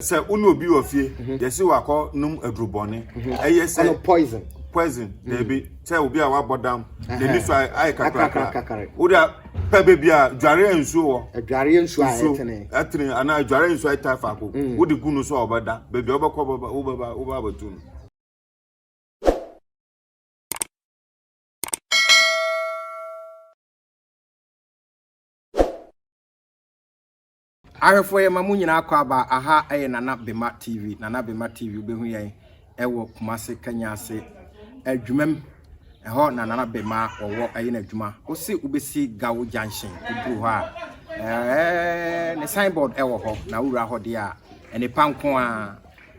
Sɛ wo ne obi wɔ fie, mhm. yɛsi wakɔ nom aduru bɔne. Mhm. Ɛyɛ sɛ poison. Poison, mhm. daabi. Sɛ obi a wabɔ dam, n'ani so ayɛ kakrakakra. Wode pɛ baabi a dwareɛ nsuo wɔ. Adwareɛ nsuo a ɛtene. Ɛtene anaa adwareɛ nsuo a ɛtaa faako. Mm. Wode gu no so a ɔbɛda. Baabi a wobɛkɔ wobɛba wobɛba wobɛba abɛtu no. Ahwɛfoɔ yɛ ma mo nyinaa kɔ aba aha yɛ nana bema tv nana bema tv wobɛhu yɛn ɛwɔ kumase kanyase adwumam ɛhɔ na nana bema wɔwɔ ɛyɛ no adwuma wose wobɛsi gawo junction woduru hɔ a ɛɛ ne signboard ɛwɔ hɔ na wowura hɔ deɛ a ɛne pa nko a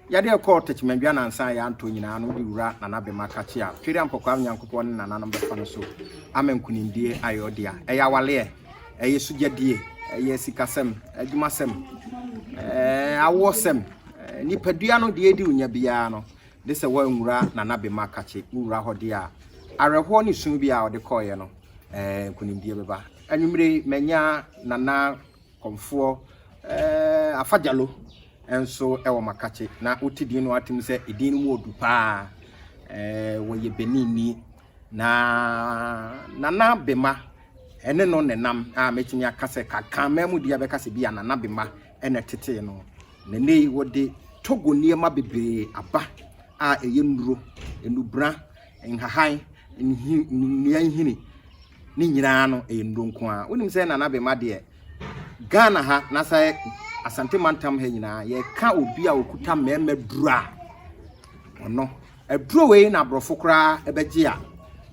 Yɛde rekɔ Techimanjua nansa a yɛantɔ nyinaa no, wode Wura Nana Bema Kakye a Tweri Ampɔkwaa Nyankopɔn ne nananom bɛfa no so ama nkunimdie ayɛ ɔdea. Ɛyɛ awaleɛ, ɛyɛ sugyadie, ɛyɛ sikasɛm, adwumasɛm, ɛɛ awoɔsɛm, nipadua no deɛ ɛdi wo nya biara no, de sɛ woanwura Nana Bema Kakye wo wura hɔ deɛ a, awerɛhoɔ ne su bi a ɔde kɔeɛ no, ɛɛ nkunimdie bɛba. Anwummere mannya Nana Kɔmfoɔ eh, Afa Gyalo nso wɔ Makakye na wote din no atem sɛ edin no mu odu paa eh, wɔyɛ Benini na Nana Bema ɛne no nenam a mɛtumi aka sɛ kankan mmaa mu deɛ bɛka sɛ bi a Nana Bema ɛna tetee no na ne yi wɔde Togo nneɛma bebree aba a ɛyɛ nnuro, nnubra, nhahan, nnua nhini Ne nyinaa no ɛyɛ nnuro nko ara. Wonim sɛ Nana Bema deɛ Ghana ha na sɛ Asante mantam ha nyinaa yɛka obi a okuta mmarima duro a ɔno aduro wei na aborɔfo koraa ɛbɛgye a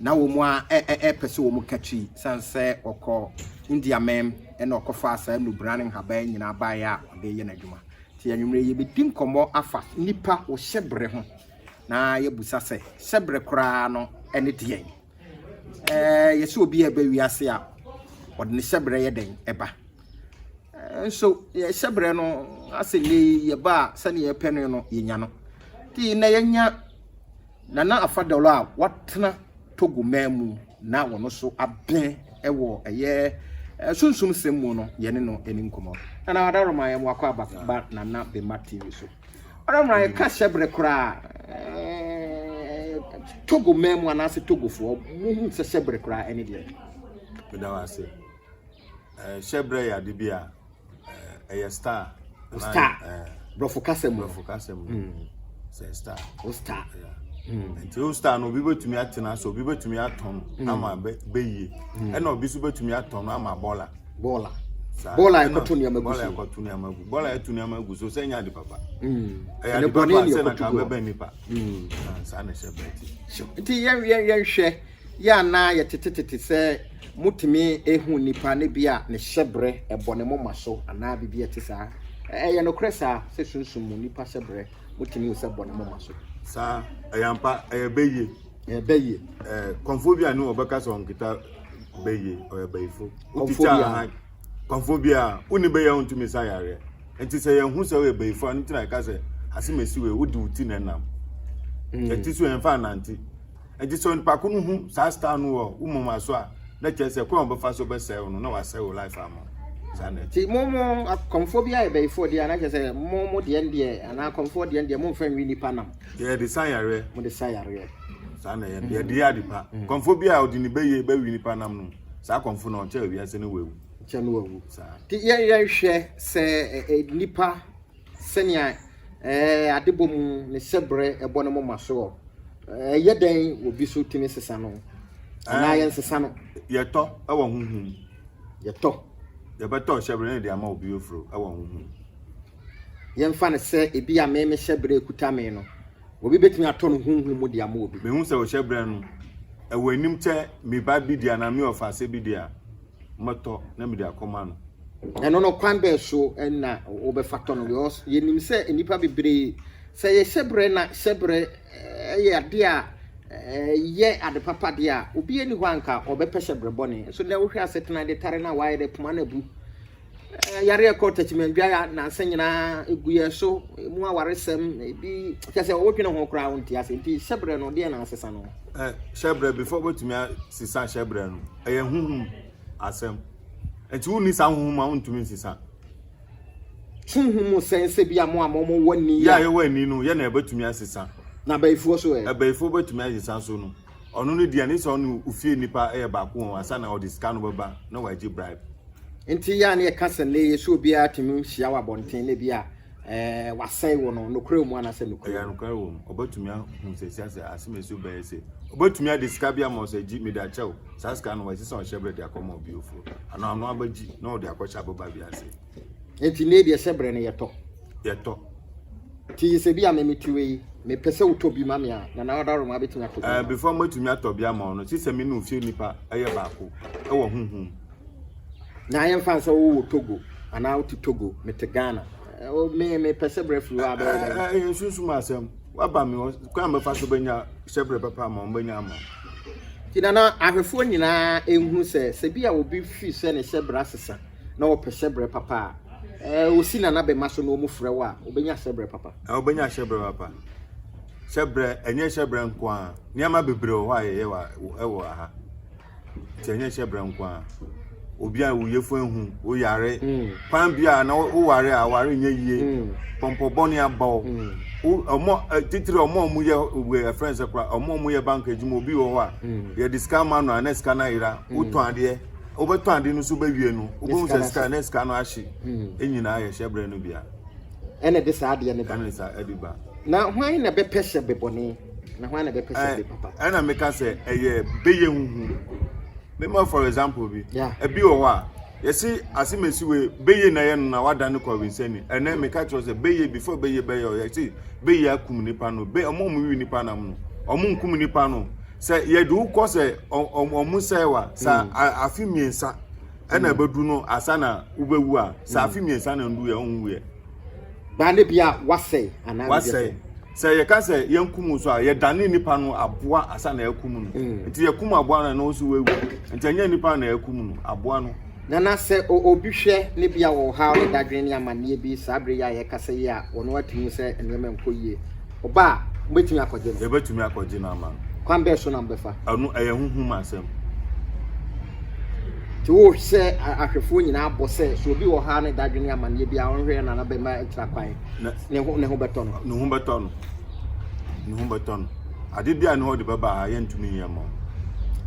na wɔn a ɛpɛ sɛ wɔn katwi san sɛ ɔkɔ India mɛm ɛna ɔkɔfa saa nnubra ne nhaban nyinaa baeɛ a ɔde yɛ n'adwuma nti anwummerɛ yɛbɛdi nkɔmmɔ afa nipa wɔ hyɛbrɛ ho na yɛbusa sɛ hyɛbrɛ koraa no ɛne deɛn Ɛɛ, yɛse obi a ɛba wiase a, ɔde ne hyɛbrɛ yɛ dɛn ɛba? Nso yɛ hyɛbrɛ no asɛ nnɛ yi yɛba a sɛdeɛ yɛpɛ no no yɛnya no. Nti na yɛnya Nana Afa Dɔlɔ a watena Togo man mu na wɔn so abɛn ɛwɔ ɛyɛ sunsum sɛm mu no yɛne no ɛni nkɔmɔ. Nana Adaroma yɛ mo akɔ aba ba Nana Bema TV so. Ɔno mmara yɛ ka hyɛbrɛ koraa Togo man mu anaasɛ Togofoɔ muhu sɛ hyɛbrɛ koraa ɛne deɛ. Meda wo ase. Hyɛbrɛ yɛ ade bi a ɛyɛ star. Star. Brɔfo kasa mu. Brɔfo kasa mu. Hmm. Sɛ star. O star. Hmm. Nti o star no obi bɛtumi atena so obi bɛtumi atɔn hmm. ama bɛyie ɛna obi nso bɛtumi atɔn ama bɔla. bɔɔla bɔɔla ɛkɔto nneɛma gu so ɛkɔto nneɛma gu bɔɔla ɛto nneɛma gu so sɛ nya de papa mm. ɛyɛ ade papa sɛ na kan bɛbɛn nipa mm. ah, saa na ɛhyɛ bɛn ti nti yɛn yɛn yɛn hwɛ yɛ anaa yɛtetetete sɛ motumi ehu nipa ne bi a ne hyɛ brɛ ɛbɔ ne moma so anaa bibi ɛte saa ɛyɛ nokorɛ saa sɛ sunsun mu nipa hyɛ brɛ motumi hu sɛ bɔ ne moma so saa ɛyɛ mpa ɛyɛ bɛyie ɛbɛyɛ kɔnfo bi a ne wɔbɛka sɛ ɔnketa bɛyɛ ɔyɛ bayifo wotikya ahan kɔnfo bi a wone bɛyɛ a wontumi sa yareɛ nti sɛ yɛhu sɛ woyɛ bayifo a no tena ɛka sɛ asemasi wei wode wo ti na ɛnam hmm. ɛti so yɛmfa anante nti sɛ onipa ko no hu saa star no wɔ wo moma so a na kyerɛ sɛ kwan wɔbɛfa so bɛsɛe wo no na wasɛe wo life ama nti mo mo akɔmfoɔ bi ayɛ bɛyifoɔ deɛ anakyɛ sɛ mo mo deɛ deɛ anaa akɔmfoɔ deɛ deɛ momfa nwi nnipa nam Yɛde sa yareɛ. Mo de sa yareɛ. Saa na yɛn yɛde yɛ ade pa. Mm. Kɔnfo bi a ɔde ne bɛyɛ bɛwi nipa nam no saa kɔnfo na ɔkyɛ wiase ne wawu. Kyɛ no wawu. Saa. Te yɛn yɛn hwɛ sɛ ɛ nipa sɛnea ɛɛ adebɔ mu ne sɛbrɛ ɛbɔ ne mo ma soɔ ɛyɛ dɛn obi so tumi sesa no anaa yɛn sesa no. Yɛtɔ ɛwɔ huhum. Yɛtɔ. Yɛbɛtɔ hyɛbrɛ ne de ama obi ofuro ɛwɔ huhum. Yɛmfa no sɛ ebia me me hyɛbrɛ kuta me no, obi betumi atɔ no honhom mu de ama obi. Mehu sɛ ɔhyɛbrɛ no ɛwɔ anim kyɛ me ba bi de anaa me ɔfaase bi de a, mɛtɔ na mede akɔma no. Ɛno no, kwan bɛn so na wobɛfa tɔ no? Because yɛnim sɛ nnipa bebree, sɛ ɛyɛ hyɛbrɛ na hyɛbrɛ yɛ ade a ɛyɛ ade papa deɛ a, obi ani hɔ anka ɔbɛpɛ hyɛbrɛ bɔne. So na wohwɛ asetena de tare no a wayɛ dɛ poma no abu. Yare a ɛkɔ takyimandua ya nansa nyinaa egu yɛn so, emu awaresɛm, ebi kyɛ sɛ wodwene ho koraa wonte ase. Nti hyɛbrɛ no deɛ na asesa no? Ɛ hyɛbrɛ before wobɛtumi asesa hyɛbrɛ no ɛyɛ huhum asɛm. Nti wonni saa huhum a wontumi nsesa. Huhum mu sɛn sɛ bi a mo a mo mo wɔ ni a. Yɛ a yɛwɔ ani no yɛ na ɛbɛtumi asesa. Na abayifoɔ so ɛ? Abayifoɔ bɛtumi asesa so no. ɔno ne deɛ ne sɛ ɔne ofie nnipa yɛ baako wɔn ansa na ɔde sika no bɛba na wagye bribe. Nti yɛ a ne yɛka sɛ nnɛ yɛ sɛ obiara tumi hyia wɔ abɔnten na ebi a ɛɛ wasɛe wɔ no nokorɛ wɔ mu anasɛ nokorɛ wɔ mu. Ɛyɛ nokorɛ wɔ mu. Ɔbɛtumi ahu sɛ sia sɛ asɛm ɛsi bɛyɛ sɛ ɔbɛtumi ade sika bi ama ɔsɛ gyi mede akyɛw saa sika no wɔ ɛsɛ sɛ ɔhyɛ berɛ de akɔma obi ofuro anaa ɔno abɛgyi na ɔde akɔhyɛ aboba bi ase. Nti ne deɛ sɛ brɛ no yɛtɔ. Yɛtɔ. Ti yɛ sɛ bi a me meti wɔ yi mepɛ sɛ wotɔ bi ma me a na na ɔda roma abɛtumi atɔ bi. Ɛɛ before mɛtumi atɔ bi ama ɔno sisɛ me ne ofie nipa ɛyɛ baako ɛwɔ huhum. Na ayɛ nfa sɛ wowɔ Togo anaa wote Togo mete Ghana me mepɛ sɛ brɛ firi hɔ a bɛyɛ dɛ. Ɛyɛ nsunsum asɛm waba me hɔ kwan mɛfa so bɛnya sɛ brɛ papa ama ɔmo bɛnya ama ɔmo. Ti na na ahwɛfoɔ nyinaa ɛnhu sɛ sɛ bi a obi fi sɛ ne sɛ brɛ asesa. na wɔpɛ hyɛbrɛ papa a, eh, wosi nanabɛma so na wɔfrɛ wo a, wobɛnya hyɛbrɛ papa. Eh, wobɛnya hyɛbrɛ papa. Hyɛbrɛ, ɛnyɛ hyɛbrɛ nko ara. Nneɛma bebree wɔ hɔ a yɛyɛ wɔ wɔ aha. Nti ɛnyɛ hyɛbrɛ nko ara. Obi a wo yefo ehu, wo yare, mm. kwan bi a na wo ware a ware nyɛ yie, mm. pɔmpɔ bɔne aba wo. Mm. Ɔmo eh, titiri ɔmo a ɔmo yɛ wɔ eh, ɛfrɛ nsɛ kora, ɔmo a ɔmo yɛ bank adwuma obi wɔ hɔ a, yɛde sika ma no a na sika no ayera, wotɔn adeɛ. wobɛtɔn ade no so bɛwie no wobɛhu sɛ sika ne sika no ahye hmm. nyinaa yɛ hyɛberɛ no bia ɛna de saa adeɛ no ba ɛna saa ɛde ba na hwan na bɛpɛ hyɛ bebɔne na hwan na bɛpɛ hyɛ bepapa ɛna meka sɛ ɛyɛ bɛyɛ huhu mema for example bi ɛbi wɔ hɔ a yɛsi ase mesi wei bɛyɛ na yɛ no na wada ne kɔ winsɛni ɛnɛ meka kyerɛ sɛ bɛyɛ before bɛyɛ bɛyɛ ɔyɛ si bɛyɛ akum nipa no bɛ ɔmo ɔmo wi nipa nam no ɔmo nkum nipa no Sɛ yɛde wo kɔ sɛ ɔmo sɛe wa, sɛ afe mmiɛnsa ɛna mm. ɛbɛdu no asa na wobɛwu a, sɛ mm. afe mmiɛnsa na ndu yɛ ɔnwu yɛ. Baa ne bia wasɛe anaa wasɛe. Sɛ yɛka sɛ yɛnkum so a yɛdane nipa no aboa asa na yɛkum no. Mm. Nti yɛkum aboa no na ɔso wawu. Nti ɛnyɛ nipa na yɛkum no, aboa no. Nana, sɛ obi hwɛ na bi a ɔwɔ ɔhaw ne dadwene ne amanneɛ bi saa bere yi a yɛrekasa yi a, wɔn ara te mu sɛ nneɛma nkɔ yie. Ɔba a, mobɛtumi akɔgye no? Yɛbɛtumi akɔgye no ama no. Kwan bɛn so na mobɛfa? Ɛno, ɛyɛ honhom asɛm. Nti wo sɛ ahwɛfoɔ nyinaa bɔ sɛ, sɛ obi wɔ ɔhaw ne dadwene ne amanneɛ bi a, ɔnhwɛ Nana bɛma atira kwan, ne ho bɛtɔ no? Ne ho bɛtɔ no. ne ho bɛtɔ no ade bi a ne ɔde bɛba a yɛntumi nyɛ mma wo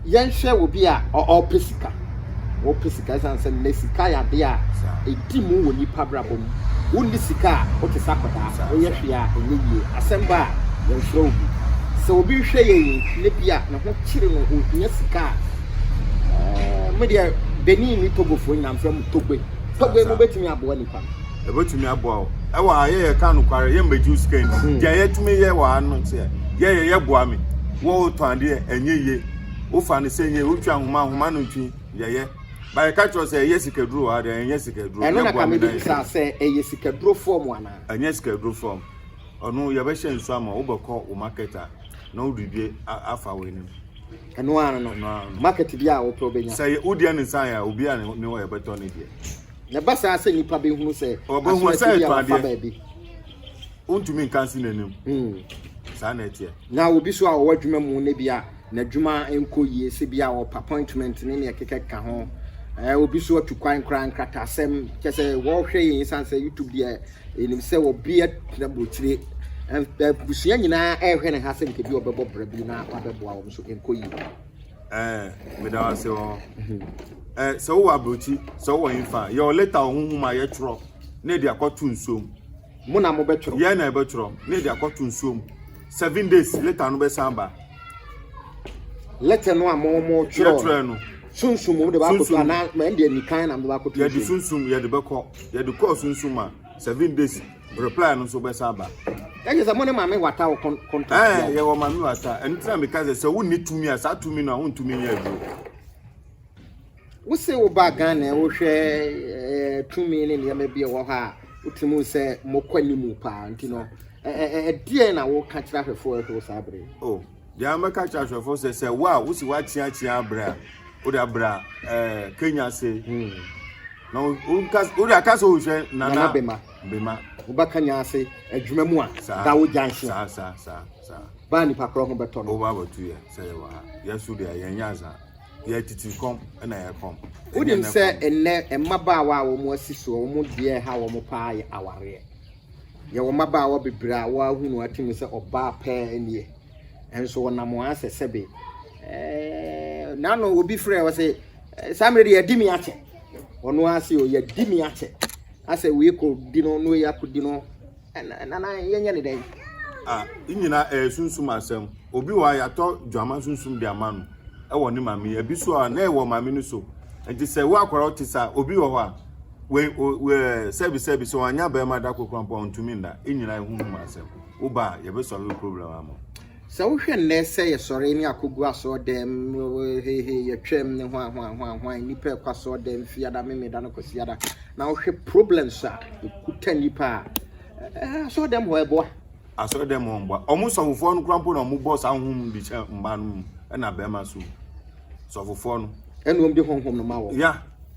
yɛnhwɛ obi a ɔpɛ sika wɔpɛ sika ɛsan sɛ nnɛ sika yɛ adeɛ a ɛdi mu wɔ nipa brabɔ mu wonni sika a wote sɛ akɔdaa woyɛ hwee a ɛnyɛ yie asɛm ba a yɛmfrɛ wo bi sɛ obi hwɛ yɛ yi ne bi a ne ho kyere no ohia sika a eh, medeɛ benin ne togofoɔ nyinaa mfrɛ mu togbe togbe no bɛtumi aboa nipa no ɛbɛtumi aboa wo ɛwɔ ha yɛyɛ ka nokware yɛ mmɛgye sika ni hmm. deɛ yɛtumi yɛ wɔ ha no sɛ yɛyɛ yɛboa me wɔwotɔ adeɛ ɛnyɛ yie wofa no sɛ yie wotwa nhoma nhoma no ntwi yɛyɛ báyìí ká kyerɛ sɛ ɛyɛ sikaduro wɔ ha deɛ ɛnyɛ sikaduro ɛno na kame de bisa sɛ ɛyɛ sikaduro fɔm anaa ɛnyɛ sikaduro fɔm ɔno yɛbɛhyɛ nsu ama wobɛkɔ wo market a na wode bi afa wo anim ɛno ano no market bi a wopɛ wobɛnya sɛ wodeɛ ne nsan a obi a ne wɔ yɛbɛtɔ ne deɛ Na ɛba saa sɛ nnipa bɛhunu sɛ asorɛkye bi a wɔfa baabi. Wontumi nka nsi n'anim. Hmm. Saa na ɛteɛ. Na obi so a ɔwɔ adwuma mu na bi a n'adwuma nkɔ yie sɛ bi a ɔpa appointment ne ne ɛkeka ka ho. Ɛɛ obi so atu kwan koraa nkrataasɛm kyɛ sɛ wɔhwɛ yɛn san sɛ YouTube deɛ ɛnim sɛ obi atena burokyire abusua nyinaa ɛrehwɛ ne ha sɛ nkebi ɔbɛbɔ brɛ bi na wabɛboa wɔn so nkɔ yie. ɛɛ meda wase wɔ hɔ ɛɛ sɛ wowɔ aburokyi sɛ wowɔ nfa yɛ wɔ leta wɔ huhu ma yɛtwerɛ na ɛde akɔto nsuo mu mo na mo bɛtwerɛ yɛn na ɛbɛtwerɛ na ɛde akɔto nsuo mu seven days leta no bɛsan ba leta no a mo mo twerɛ no sunsum mo de ba akɔto anaa mɛ ɛde anikan na mo de ba akɔto nsuo mu yɛde sunsum yɛde bɛkɔ yɛde kɔɔ sunsum a seven days Reply no nso bɛsa aba. Ɛnyɛ sɛ mo ne maame wata wo contract. Ɛɛ yɛ wɔ maame wata. Ɛno tena mi ka sɛ sɛ wo ni tumi a saa tumi no a wontumi nyɛ aduro. Wose wo ba Ghana a wohwɛ eh, tumi ne nneɛma bi a ɛwɔ hɔ a wotumi sɛ mokɔ anim paa nti no ɛdeɛ na woka kyerɛ ahwɛfoɔ ɛhoro saa bere. Oh, Deɛ mɛka kyerɛ ahwɛfoɔ sɛ sɛ wo a wosi woakyeakyea abrɛ a wode abra ɛɛ kenya ase hmm. na wode aka sɛ wohwɛ nana bema bema woba kenya ase adwuma mu a da wo gya nhye saa saa saa saa baa nipa korɔ ho bɛtɔ no woba abɛto yɛ sɛ yɛwɔ ha yɛso deɛ yɛnyɛ asa yɛtete kɔm ɛna yɛkɔm wonim sɛ ɛnnɛ mmabaawa a wɔn asi soɔ wɔn deɛ ha wɔn paa yɛ awareɛ Yɛwɔ mmabaawa bebree a wɔahu no atim sɛ ɔbaa pɛɛ nie, nso wɔnam wɔn asɛ sɛbe. Ɛɛ, n'ano obi frɛ wɔ sɛ, saa mmerɛ de yɛadi me akyɛ. Ɔno ara se o, yɛadi me akyɛ. Asɛ wei kɔ di no, na wei akɔ di no. Nana, yɛnyɛ ne dɛn? Ah, ne nyinaa ɛyɛ sunsum asɛm. Obi wɔ a yɛatɔ dwama sunsum de ama no ɛwɔ ne maame. Ebi so a na ɛwɔ maame no so. Nti sɛ wo akwaraa ɔte saa, obi wɔ hɔ a. Wei o ɛɛ sɛbi sɛbi sɛ wanya bɛrima da koro kora mpo a ntumi nna. Enyina ehu ho ma asɛm. Wo ba a yɛbɛsɔre wo problem ama wo. Sɛ wohwɛ nnɛ sɛ yɛsɔre ne akɔgu asɔɔdɛm hehe yɛtwam ne hwan hwan hwan hwan nnipa ɛkɔ asɔɔdɛm fiada memeda no kwasiada na wohwɛ problems a ɛkuta nnipa a ɛɛ asɔɔdɛm hɔ ɛboa. Asɔɔdɛm hɔ mboa. Ɔmo sɔfofoɔ no kora mpo na ɔmo bɔ saa honhom de hyɛ mmaa no mu ɛna bɛrima so. Sɔfofoɔ no. Ɛna ɔmo de honhom no ma wɔ. Ya.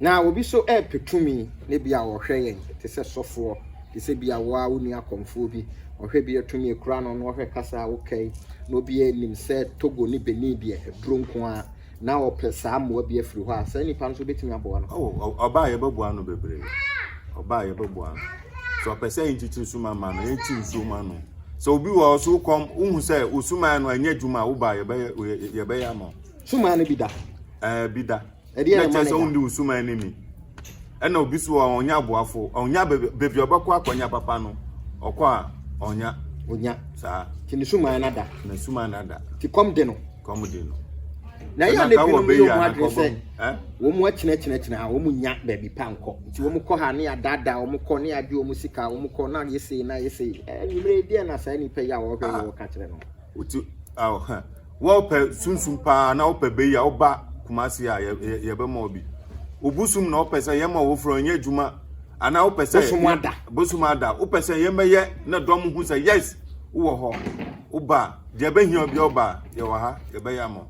Na obi so repɛ tumi, na ebia ɔhwɛ yɛn te sɛ sɔfoɔ, te sɛ bia wo ara wo nua kɔmfoɔ bi, ɔhwɛ bia tumi ekura no, na ɔhwɛ kasa a woka yi, na obiara nim sɛ Togo ne Benin deɛ aduro nko ara, na ɔpɛ saa mmoa bi afiri hɔ a, saa nipa no nso wobɛtumi aboa no? Oh, ɔ- ɔba a yɛbɛboa no bebree. Ɔba a yɛbɛboa no. Sɛ ɔpɛ sɛ yɛnkyekyere suma ma no, yɛnkyi nsuo ma no. Sɛ obi wɔ hɔ so wokɔm, wohu sɛ wo sumaeɛ no anyɛ adwuma a, wo ba a yɛbɛyɛ yɛ- yɛbɛyɛ ama wo. Suman no bi da. Ɛɛ eh, bi da. Ɛdeɛ na kyerɛ sɛ wondi wo suman no ni. Ɛna obi so a ɔnya aboafo, ɔnya baabi a ɔbɛkɔ akɔnya papa no, ɔkɔ a ɔnya. Ɔnya. Saa. Ti ne suman no ada. Na suman no ada. Ti kɔm de no. Kɔm de no. Na yɛ ne binom yɛ ɔmo adwene sɛ wɔn mu akyinɛkyinɛkyinɛ ha wɔn mu nya baabi pa nkɔ nti wɔn kɔ ha ne adaadaa wɔn kɔ ne agye wɔn sika wɔn kɔ na yɛ sei na yɛ sei ɛɛ nyimire deɛ na saa nipa yi a wɔhwɛ yɛ wɔka kyerɛ no. Wɔpɛ sunsum paa na wɔpɛ bɛ yi a ɔba Kumasi a yɛbɛma wɔ bi. Obusom na ɔpɛ sɛ yɛma wɔfura ɔnyɛ adwuma anaa wopɛ sɛ bosom ada bosom ada wopɛ sɛ yɛmɛyɛ na dɔm ho sɛ yes wowɔ hɔ woba deɛ bɛhia obi ɔba yɛwɔ ha yɛbɛyɛ ama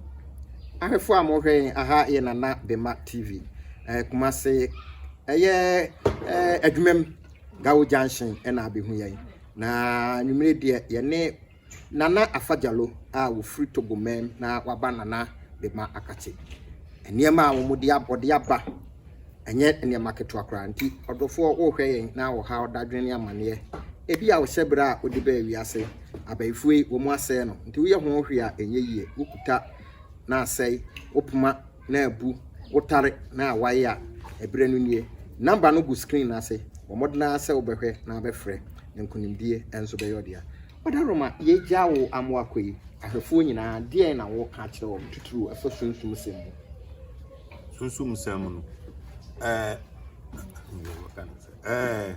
ahwɛfoɔ a mohwɛ yɛn aha yɛ nana bema tv eh, Kumasi ɛyɛ eh, adwumam gawo junction ɛna abɛhu yɛn na nwummere deɛ yɛne Nana Afadjalo a ɔfiri Togoman na waba Nana de ma Akatse. Nneɛma a wɔde ab wɔde aba ɛnyɛ nneɛma ketewa koraa nti ɔdɔfoɔ worehwɛ yɛn na wɔha wo dadwene ne amanneɛ. Ebia wohyɛ berɛ a wode baa wiase. Abayifoɔ yi wɔasɛe no nti woyɛ ho hwee a ɛnyɛ yie. Wokuta na asɛe wo poma. na abu wotare na a waye a ɛberɛ no nie number no gu screen no ase bɔ mmɔden ara sɛ wobɛhwɛ na abɛfrɛ na nkonimdie nso bɛyɛ ɔdea Ɔda Roma yɛgya wo amoa kɔ yi ahwɛfoɔ nyinaa deɛn na wɔka akyerɛ wɔn titiriw ɛfa sunsum sɛm mu sunsum sɛm no ɛɛ ɛɛ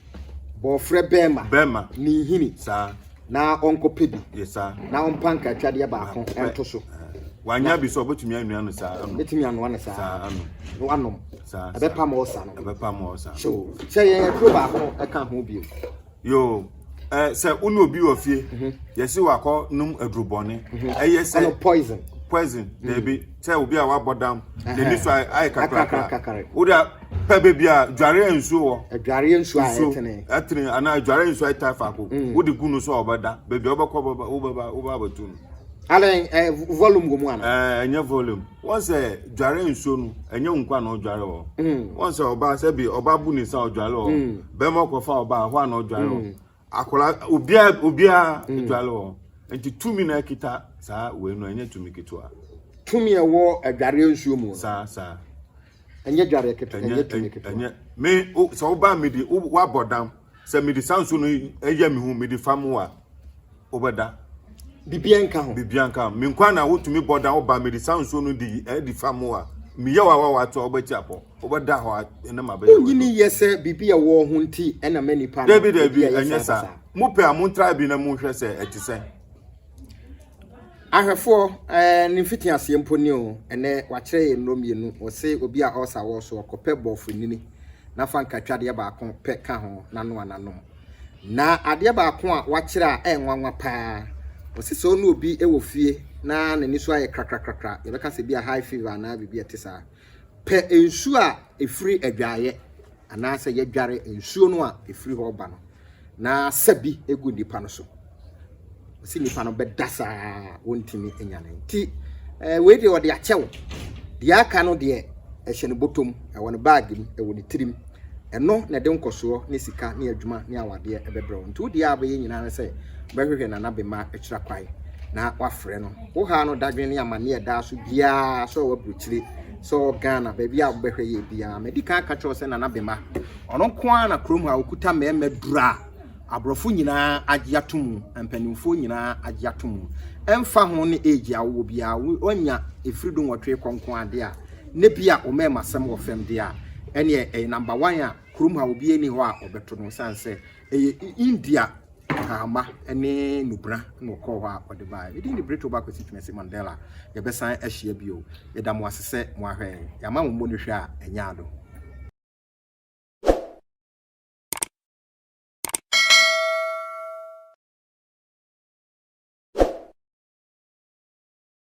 Wɔfrɛ bɛrima, bɛrima. ne nhini saa. na ɔnkɔpɛ bi Yɛ saa. na ɔmpa nkratwadeɛ baako Pɛ. nto so. Ɛhɛn. Wanya bi so a, ɔbɛtumi anua no saa anom. Bɛtumi anoa no saa Saa anom. na wanom. Saa, saa. Ɛbɛpam ɔɔsa no. Ɛbɛpa ma ɔsa. So sɛ yɛn aduro baako ɛka ho bio. Yoo. Ɛ, sɛ wo ne obi wɔ fie, yɛse wakɔ nom adurubɔne. Ɛyɛ sɛ Ɛno poison. poison, daabi. sɛ obi a wabɔ dam n'ani so ayɛ kakrakra wode pɛ baabi a dwareɛ nsuo wɔ adwareɛ nsuo a ɛtene ɛtene anaa adwareɛ nsuo a ɛtaa faako mm. wode gu no so a ɔbɛda baabi a wobɛkɔ wobɛba wobɛ abɛto no adan eh, volume wɔ mu ana eh, ɛnyɛ volume wɔn sɛ dware nsuo no ɛnyɛ nkwa na ɔdware wɔ mm. wɔn sɛ ɔbaa sɛ bi ɔbaa bu ne nsa ɔdware wɔ mm. bɛrima ɔkɔfa ɔbaa hɔ a na ɔdware wɔ akwadaa obiara obiara mm. adwale wɔn nti tumi na ɛkita saa wei no ɛnyɛ tumi ketewa tumi ɛwɔ adwareɛ nsuo mu saa saa ɛnyɛ adwareɛ ketewa ɛnyɛ tumi ketewa ɛnyɛ me sɛ wobaa mede wabɔ dam sɛ mede saa nsuo no ɛyɛ me ho mede fa mu a wobɛda bibia nka ho bibia nka ho menkwa na wotumi bɔ dam wobaa mede saa nsuo no de ɛdi fa mu a meyɛ wawawa to a wobɛti apɔ wobɛda hɔ a ɛnam abɛyɛ w'adwuma. Wonyini yɛ sɛ biribi a ɛwɔ ho nti ɛna mɛ nipa no. Dabi dabi ɛnyɛ saa. Mo pɛ a mo ntra bi na mo hwɛ sɛ ɛte sɛ. Ahwɛfoɔ ɛɛ ne mfiti aseɛ mpo ni o ɛnɛ wakyerɛ yɛ nnuro mmienu ɔse obi a ɔsa wɔ so ɔkɔpɛ bɔɔfo nini na fa nkatwa adeɛ baako pɛ ka ho na noa n'anom na adeɛ baako a wakyerɛ a ɛyɛ nwanwa paa ɔse sɛ ɔne obi wɔ fie na n'ani so ayɛ krakrakrakra yɛbɛka sɛ bi a high fever anaa biribi ɛte saa. Pɛ nsuo a ɛfiri adwaeɛ, anaasɛ yɛdware nsuo no a ɛfiri hɔ ba no, na sa bi gu nnipa no so. Ɔsi nnipa no bɛda saa wɔntumi nyane. Nti eh, wei deɛ ɔde akyɛ wo. Deɛ aka no deɛ ɛhyɛ no bɔtɔm, ɛwɔ ne baage mu, ɛwɔ ne tirim. Ɛno na ɛde nkɔsoɔ ne sika ne adwuma ne awadeɛ bɛbrɛ wo. Nti wo deɛ a wobɛyɛ nyinaa ne sɛ wobɛhwehwɛ Nana Bema akyira kwan na woafrɛ no. Wo haa no dadwene ne amanneɛ ɛdaa so biara sɛ ɔwɔ aburokyire, sɛ ɔwɔ Ghana, baabi a wobɛhwɛ yɛ biara. Madi kan aka kyerɛ wo sɛ Nana Bema, ɔno nko ara na kurom ha ɔkuta mmarima duru a aborɔfo nyinaa agye ato mu, mpanimfoɔ nyinaa agye ato mu. Ɛmfa ho ne age a wowɔ biara, woanya ɛfiri du nwɔtwe kɔ nko ara deɛ a, na bi a wɔma ɛma sɛm wɔ fam deɛ a, ɛneɛ ɛyɛ number one a kurom ha obiara ni hɔ a ɔbɛto no sane sɛ ɛyɛ India kahama ne nubena na ɔkɔɔ hɔ a ɔde baeɛ. Medin de Brittle ba Kwesi Twumasi Mandela. Yɛbɛsan ahyia bio. Yɛda mo ase sɛ mo ahwɛ yɛn. Yɛama mo mmɔ no hwɛ a ɛnyɛ ado.